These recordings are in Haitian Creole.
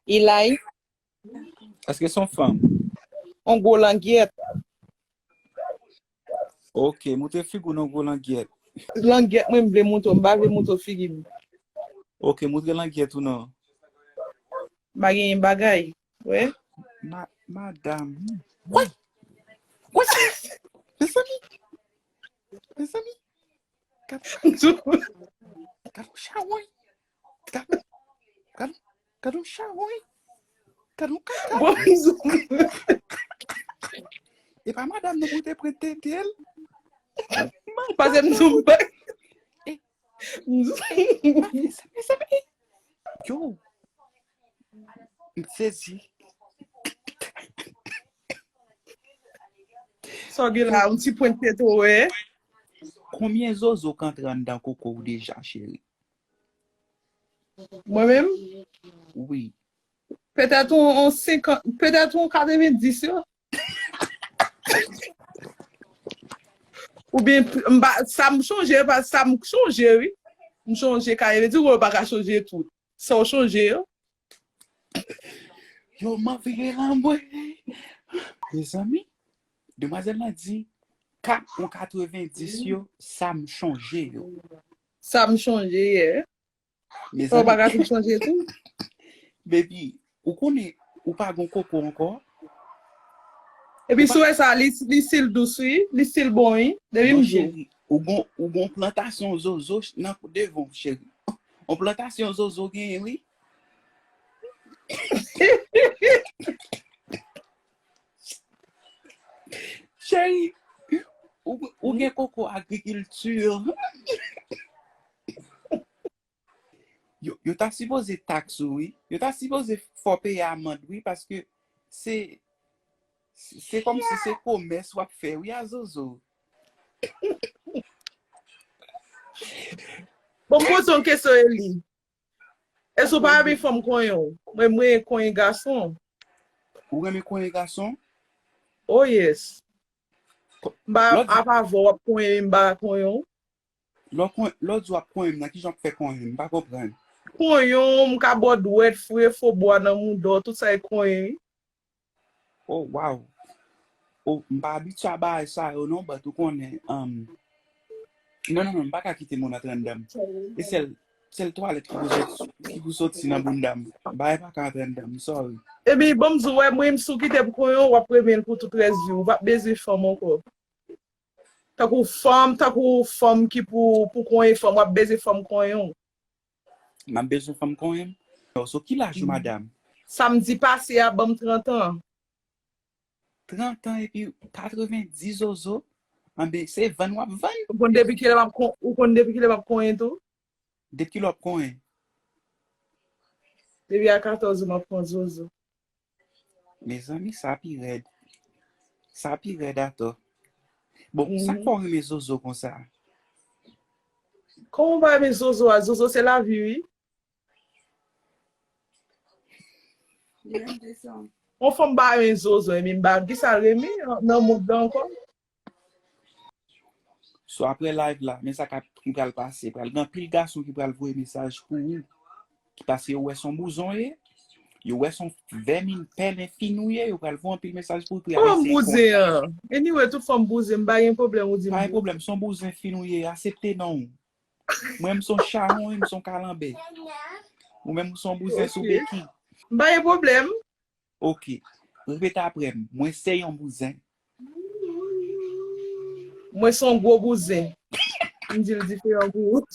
Ilay. Eske son fanm? On gwo langyèt. Ok, moutre fig ou nan gwo langyèt. Langyèt mwen m vle moutre, m pa vle moutre figi m. Ok, moutre langyèt ou nan. Ma genyen bagay, wè. Madam. What? What? Mezanmi. Mezanmi. Gad yon chawony. Gad yon chawony. Gade, gade, gade yon chawoy. Gade yon kaka. Bon pizou. E pa madam nou pou te pran tete l. Pase m sou bak. E, e, sa e. Yo. M sezi. Sa gen la, un ti pwent tete ou e. Konbyen zozo k antre anndan koko w deja, cheri? Mwen menm? Wi. Petèt yon 50, petèt yon 90 yo. Oubyen, m pa, sa m chonje, sa m chonje wi. M chonje ka, e vle di ou pa ka chonje tout. Sa w chonje yo. Yo man vire lan mwen. Me zanmi, demwazèl lan di, kat ou 90 yo, sa m chonje yo. Sa m chonje ye. Me Fò zanmi, baga tou chanje tou. baby, ou konnen ou pa gon koko ankò? Epi Ou pa- sou wè sa, li, li stil dous wi, li stil bon wi. Depi Non m di w. chérie, Ou gon ou gon plantasyon zozo nan devan w cheri. On plantasyon zozo genyen wi. Cheri, ou gen koko agrikilti. Yo ta sipoze tax ou wi. Yo ta sipoze fè w peye amand wi paske se se komsi se komès w ap fè wi a zozo. Bon m poze w kesyon Eli. Èske ou pa renmen fanm konyen w? Mwen m renmen konyen gason. Ou renmen konyen gason? Oh yes. M pa ap avè w w ap konyen m m pa konyen w. Lò kon lò di wap konyenm nan kijan wap fè konyen m pa konprann. Konyon, m ka bò dwèt, fouye fo bwa nan mouda w, tout sa e konyen wi. Oh waw oh m pa abitye a bagay sa yo non but ou konnen um non non non m paka kite moun antre anndan m e sèl sèl twalèt ki pou sot ki pou soti nan bounda m bagay paka antre anndan m sorry. Ebyn banm di w wè mwen si w kite m konyen w wap renmen l pou tout rès vi w ou pap bezwen fanm ankò. Tankou fanm, tankou fanm ki pou pou konyen fanm, wap beze fanm konyen w. Map bezwen fanm konyen m. Oh so ki laj ou madam? Samdi pase a banm 30 an. 30 an epi 90 zozo? Anben se vann wap vann? Ou konn depi kilè map konyen tou? 2 kilo ap konyen. Depi a 14 ou map pran zozo. Mezanmi sa pi rèd. Sa pi rèd atò. Bon, sak fè w renmen zozo konsa? Kòman m pa renmen zozo a? Zozo se lavi wi. Yon fanm pa renmen zozo ebyen m pa kisa l renmen nan mond lan ankò? So aprè live la men sa kap ki pral pase pral gen anpil gason ki pral voye mesaj pou ou paske yo wè son bouzon ye yo wè son vèmin pèlen fin ou ye yo pral voye anpil mesaj pou ou pou yap eseye konn ou Kòm bouzen an anyway tout fòm bouzen m pa gen pwoblèm ou di m Pa gen bouzen. pwoblèm son bouzen fin ou ye asepte non ou mwen m son chawony m son kalanbè ou menm ou son bouzen sou beki. M pa gen pwoblèm. Ok. Repete apre m. Mwen se yon bouzen. Mwen se yon gwo bouzen. M di l diferan pou ou.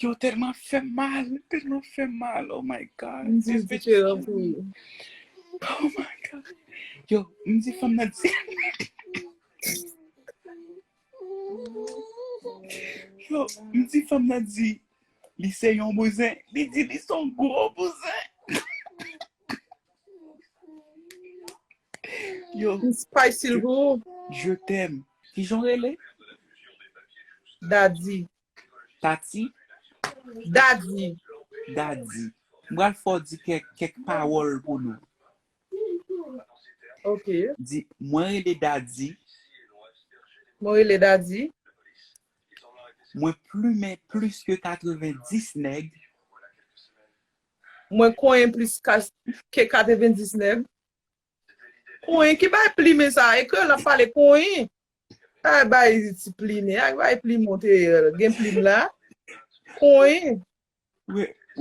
Yo telman fè mal, telman fè mal, oh my God. M di diferan pou yo. Oh my God. Yo, m di fèm nan di. Yo, m di fèm nan di, li se yon bouzen, li di li son gwo bouzen. Yo. Ti spice sil pou ou. Je t'aime. Kijan w rele? Dadi. Tati? Dadi. Dadi. M pral fè w di kèk kèk pawòl pou nou. Ok. Di, mwen rele Dadi. Mwen rele Dadi. Mwen plumen plis ke 90 nèg. Mwen konyen plis ke 90 nèg. Konyen ki bay plimen sa e kreyòl lap pale konyen pa bay ti plimen ak bay plimon te gen plim la konyen.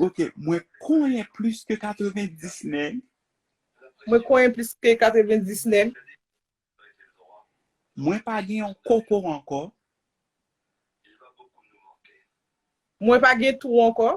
Ok mwen konyen plis ke 90 nèg. Mwen konyen plis ke 90 nèg. Mwen pa gen yon koko ankò. Mwen pa gen twou ankò.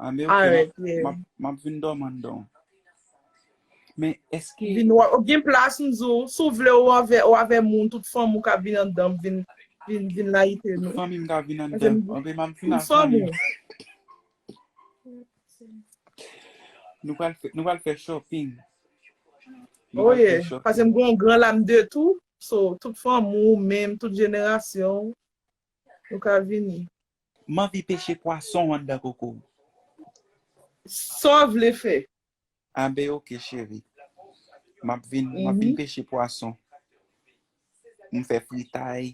Anmè ok, map vin dòmi andan. Men eske. Vin wè, ou gen plas m di w, si w vle ou avè moun, tout fanmi w ka vin andan vin layite nou. Tout fanmi m ka vin andan. Anmè map vin ak fanmi m. Nou pral fè shopping. Oye, pase m gen yon gran lam de tou, so tout fanmi w, menm tout jenerasyon w. Ou ka vini. M anvi peche pwason anndan koko w. Sa w vle fè. Anben ok cheri. M ap vin peche pwason. M fè fritay.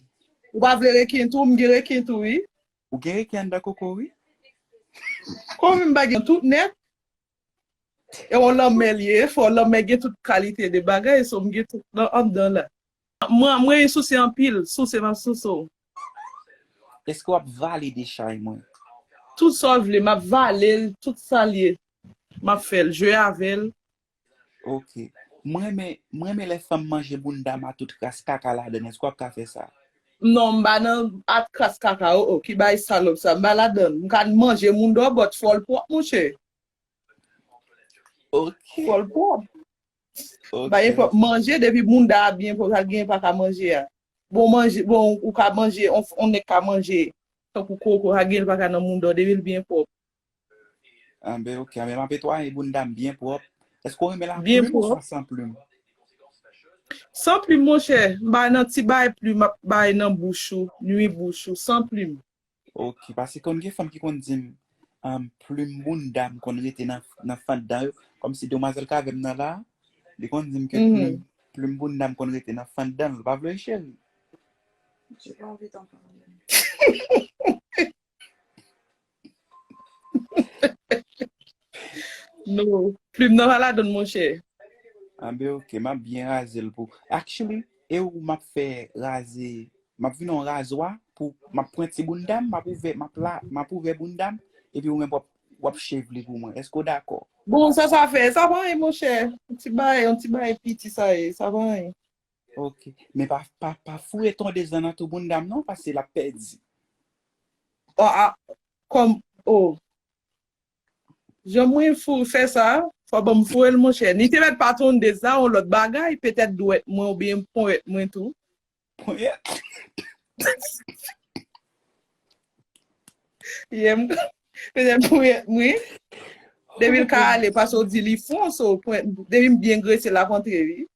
Ou pa vle reken tou? M gen reken tou wi. Ou gen reken anndan koko w wi. Kòm m pa gen tout nèt, E yon lanmè li ye, fò lanmè gen tout kalite de bagay, so m gen tout nan anndan la. Mwen renmen souse anpil, souse map souse w. Eske wap vale de chay mwen? Tout sa w vle, map vale l, tout sa l ye, map fè l, jwe avè l. Ok. M renmen, m renmen lè fanm manje bounda m a tout kras kaka ladan l, eske wap ka fè sa? Non m pa nan at kras kaka oo ki bagay salop sa m pa ladann m ka manje moun dò but fòl pwòp monchè. Ok. Fòl pwòp. Ok. Bagay pwòp manje depi mounda a byen pwòp sa k genyen paka manje a. Bon manje bon ou ka manje on nèg ka manje tankou koko sa k genyen l paka nan mounda w depi l byen pwòp. Anben ok, anben map etwaye boundam byen pwòp. Eske w renmen la Byen plume pwòp. oswa san plume? San plim monchè, m pa nan ti bay plim ap bay nan bouch ou, nwi bouch ou, san plim. Ok, pase konn gen fanm ki konn dim um plume boundam konn rete nan nan fant dan yo, kòmsi demwazèl k avèm nan la, li konn dim ke Mhm. plume plume boundam konn rete nan fant danl, ou pa vle ri cheri? Nou, plim nan wala don mwen chè. An be ok, m ap byen raze l pou. Actually, e ou m ap fè raze, m ap vin an razwa pou m ap pran ti bounda m, m ap ouvè, m ap la, m ap ouvè bounda m, epi ou menm w ap shave li pou mwen. Èske ou dakò? Bon, sa sa fè? Sa pa anyen monchè. Yon ti bagay, yon ti bagay piti sa ye. Sa pa anyen. Ok, men pa pa pa foure tonde zan nan tou bounda m non pase lap pèdi. Oh a kòm oh jan mwen foure fè sa fò banm foure l monchè. Li te mèt pa tonde zan yon lòt bagay petèt dwèt mwen oubyen ponyèt mwen tou. Ponyèt. Yè m petèt ponyèt mwen. Depi l ka ale pase w di li fon so ponyèt depi m byen grese lap antre wi.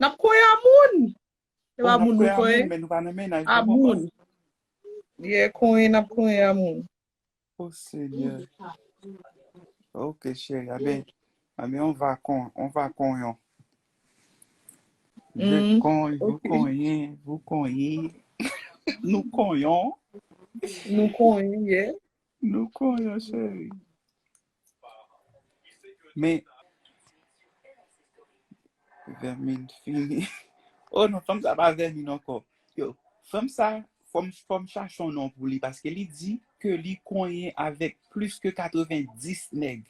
Nap koye a moun. Se pa moun nou koye. A moun. Yeah koye nap koye a moun. Oh senyè. Ok cheri a ben. A ben on va kon. On va kon yon. Je kon. Vou kon yon. Vou kon yon. Nou kon yon. Nou kon yon yeah. Nou konnen cheri. Men Vèmin fini. Oh non, fanm sa pa vèmin ankò. Yo, fanm sa, fòm fòm chache yon non pou li paske li di ke li konyen avèk plis ke 90 nèg.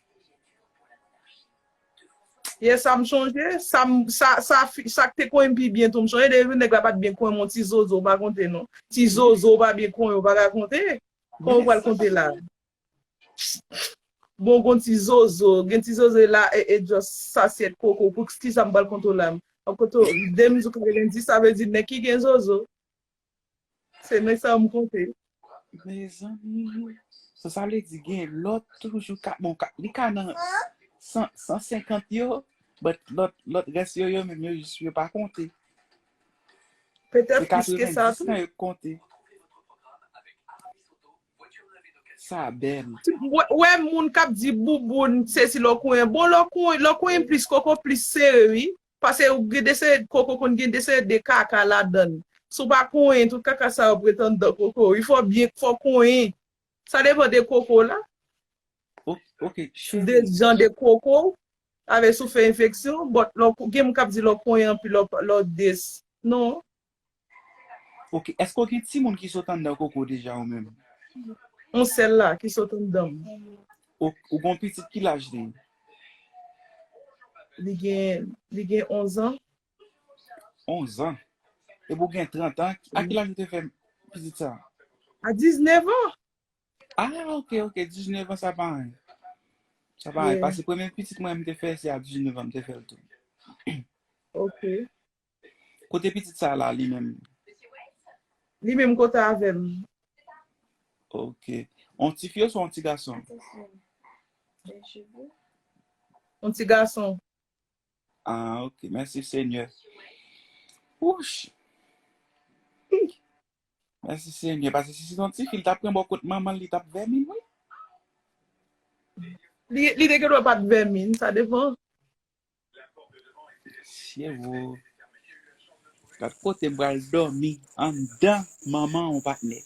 Yes, sa m sonje. Sa m sa sa fi sa k te konyen m pi byen tou. M sonje de jou nèg la pa t byen konyen m yon ti zozo, m pa konte non. Ti zozo pa byen konyen w pa ka konte. Kò ou pral konte la. Bon gon ti zozo, gen ti zozo la e e just sasyèt koko pou kisa m pral konte w la m ap konte w demn jou kare lendi sa vle di nèg ki gen zozo se nèg sa yo m konte. Mezanmi so sa vle di gen lòt toujou ka bon ka li ka nan 100 150 yo but lòt lòt rès yo yo menm yo jis yo pa konte Petèt plis ke sa tou. Sa bèl. Ou wè moun kap di bouboun se si lò konyen. Bon lò konyen, lò konyen plis koko plis sere wi. Pase ou gen dese koko konn gen dese de kaka ladann. Si w pa konyen tout kaka sa yo pretan dan koko wi. Fò w byen, fò w konyen. Sa depan de koko w la. Ok cheri. De jan de koko w. Avè si w fè enfeksyon. But lè w gen moun k ap di lè w konyen anpil lè w des. Non. Ok èske w gen timoun ki sot anndan koko w deja ou menm? Yon sèl la ki sot anndan m. Ok ou gen yon pitit ki laj li? Li gen 11 ans. 11 ans. Epi ou gen 30 ans. A ki laj ou te fè pitit sa? A 19 ans. Ah ok ok 19 ans sa pa anyen. Sa pa anyen. Pase premye pitit mwen mte fè se a 19 ans mte fèl tou. Ok. Kote pitit sa la li menm? Li menm kote avèm. Ok. On ti fi ou son ti gason? On ti gason. Ah ok, mèsi senyè. Wouch! Hi! Mèsi senyè, pase si se ton ti fi li tap pran bò kot manman l li tap vèmin wi. Li li te gendwa pat vèmin, sa depan. Syewoo. Gad kote m pral dòmi anndan manman on patnè.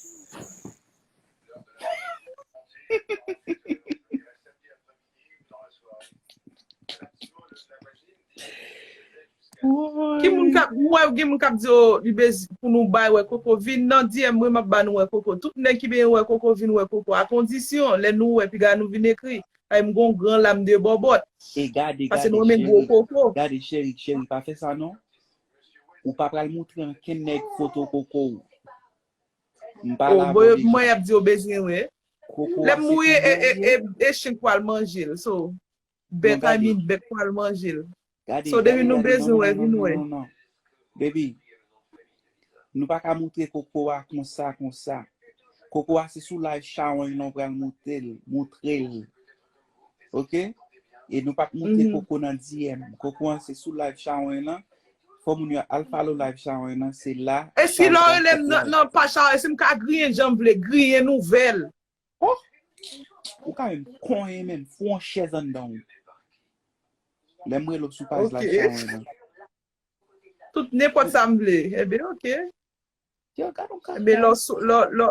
Ki moun kap m wè gen moun kap di yo li bez pou nou bay wè koko vin nan DM mwen map ba nou wè koko tout nèg ki benyen wè koko vin wè koko a kondisyon lè nou wè piga nou vin ekri paske m gon gran lam de bòbòt E gade paske m gade renmen gwo cheri koko. gade cheri cheri pa fè sa non ou pa pral moutre ankenn nèg foto koko w m pa Oh la bon bon deja. yap di yo bezwen wè. Koko Lè a m se mouye e e e Koko. e chen pwal manje l so Non bèt I gade. mean bèk pwal manje l Gade, so depi gade, nou gade. Non, bezwen non, wè non, non, vin non, wè. non, non. Baby, nou pa ka moutre koko a konsa, konsa. Koko a se sou live chawony lan w pral moute l, moutre l. Ok E nou pap monte koko nan DM Koko an se sou live Sharon lan Fò moun yo al follow live Sharon lan Se la E si lè w rele m nan paj Sharon e si m ka griyen jan m vle griyen nouvèl Ohh Ou ka menm konyen menm fou yon chèz anndan w Lè m rele w sou paj live Sharon lan Tout nenpòt sa m vle Ebyen ok Ebyen lè w sou lè w